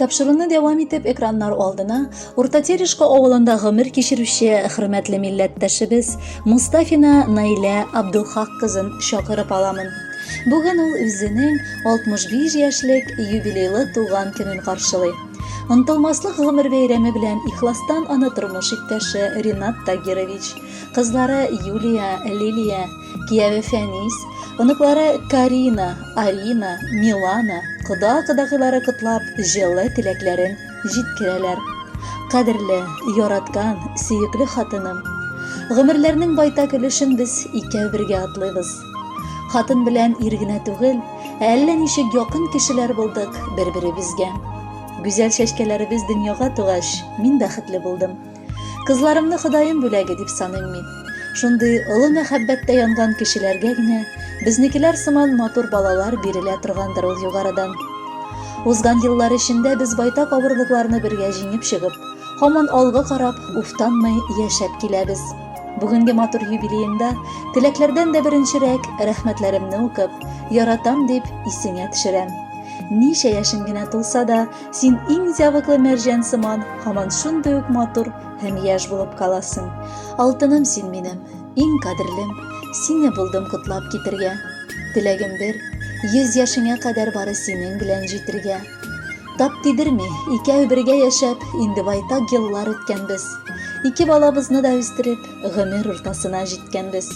Тапшыруны дәвам итеп экраннар алдына Урта Терешка авылында гомер кичерүче хөрмәтле милләттәшебез Мустафина Наилә Абдулхак кызын чакырып аламын. Бүген ул үзенең 65 яшьлек юбилейлы туган көнен каршылый. Онтылмаслык гомер бәйрәме белән ихластан аны тормыш иптәше Ринат Тагирович, кызлары Юлия, Лилия, Кияве Фәнис, оныклары Карина, Арина, Милана, кода-кодагыйлары котлап, җылы теләкләрен җиткерәләр. Кадерле, яраткан, сөекле хатыным, гомерләрнең байтак өлешен без икәү бергә атлыйбыз. Хатын белән ир генә түгел, әллә ничек якын кешеләр булдык бер-беребезгә. Гүзәл чәчкәләребез дөньяга тугач, мин бәхетле булдым. Кызларымны Ходаем бүләге дип саныйм мин. Шундый олы мәхәббәттә янган кешеләргә генә безнекеләр сыман матур балалар бирелә торгандыр ул югарыдан. Узган еллар эчендә без байтак авырлыкларны бергә җиңеп чыгып, һаман алга карап, уфтанмый яшәп киләбез. Бүгенге матур юбилеенда теләкләрдән дә беренчерәк рәхмәтләремне укып, яратам дип исеңә төшерәм. Ничә яшен генә тулса да, Син иң зәвыклы мәрҗән сыман, һаман шундый ук матур һәм яшь булып каласың. Алтыным син минем, иң кадерлем, сине булдым котлап китергә. Теләгем бер, йөз яшеңә кадәр бары синең белән җитергә. Тап тидерми, икәү бергә яшәп, инде байтак еллар үткәнбез. Ике балабызны да үстереп, гомер уртасына җиткәнбез.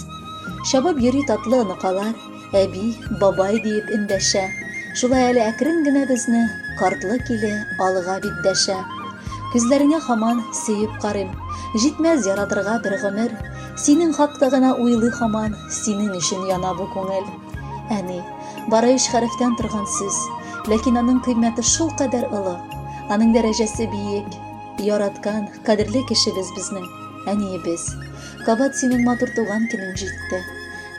Чабып йөри татлы оныкалар, Әби, бабай диеп эндәшә. Шулай әле әкрен генә безне картлык иле алга бит дәшә. Күзләреңә хаман сөеп карыйм. Җитмәс яратырга бер гомер. Синең хакта гына уйлый хаман, синең өчен яна бу күңел. Әни, бары өч хәрефтән торган сүз, ләкин аның кыйммәте шул кадәр олы, аның дәрәҗәсе биек. Яраткан, кадерле кешебез безнең әниебез. Кабат синең матур туган көнең җитте.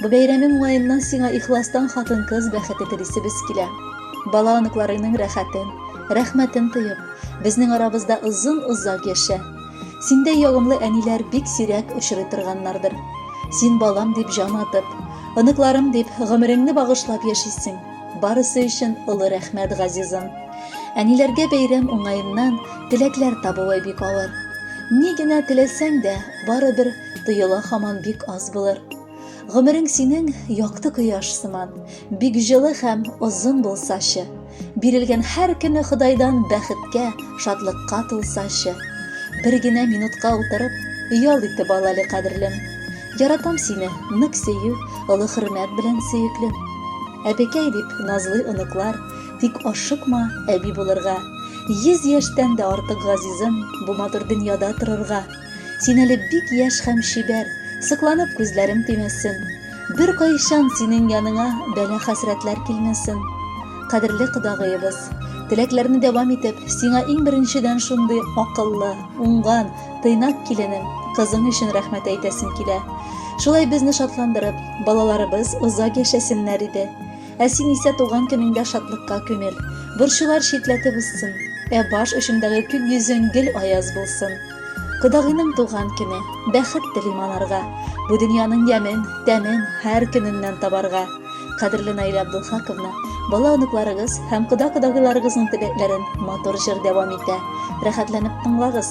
Бу бәйрәмең уңаеннан сиңа ихластан хатын-кыз бәхете телисебез килә. Бала-оныкларыңның рәхәтен, рәхмәтен тоеп, безнең арабызда озын-озак яшә. Синдәй ягымлы әниләр бик сирәк очрый торганнардыр. Син балам дип җан атып, оныкларым дип гомереңне багышлап яшисең. Барысы өчен олы рәхмәт, газизым. Әниләргә бәйрәм уңаеннан теләкләр табуы бик авыр. Ни генә теләсәң дә, Барыбер тоела хаман бик аз булыр. Гомерең синең якты кояш сыман, бик җылы һәм озын булсачы. Бирелгән һәр көне Ходайдан бәхеткә, шатлыкка тулсачы. Бер генә минутка утырып, ял итеп ал әле, кадерлем. Яратам сине, нык сөю, олы хөрмәт белән сөеклем. Әбекәй дип назлый оныклар, тик ашыкма әби булырга. Йөз яшьтән дә артык газизым, бу матур дөньяда торырга. Син әле бик яшь һәм чибәр, сокланып күзләрем тимәсен. Бер кайчан синең яныңа бәла хәсрәтләр килмәсен. Кадерле кодагыебыз, теләкләрне дәвам итеп, сиңа иң беренчедән шундый акыллы, уңган, тыйнак киленем, кызым өчен рәхмәт әйтәсем килә. Шулай безне шатландырып, балаларыбыз озак яшәсеннәр иде. Ә син исә туган көнеңдә шатлыкка күмел. Борчулар читләтеп узсын, ә баш очындагы күк йөзең гел аяз булсын. Кодагыйның туган көне, бәхет телим анарга, бу дөньяның ямен, тәмен һәр көненнән табарга. Кадерле Наилә Абдулхаковна, бала-оныкларыгыз һәм кода-кодагыйларыгызның теләкләрен матур җыр дәвам итә. Рәхәтләнеп тыңлагыз!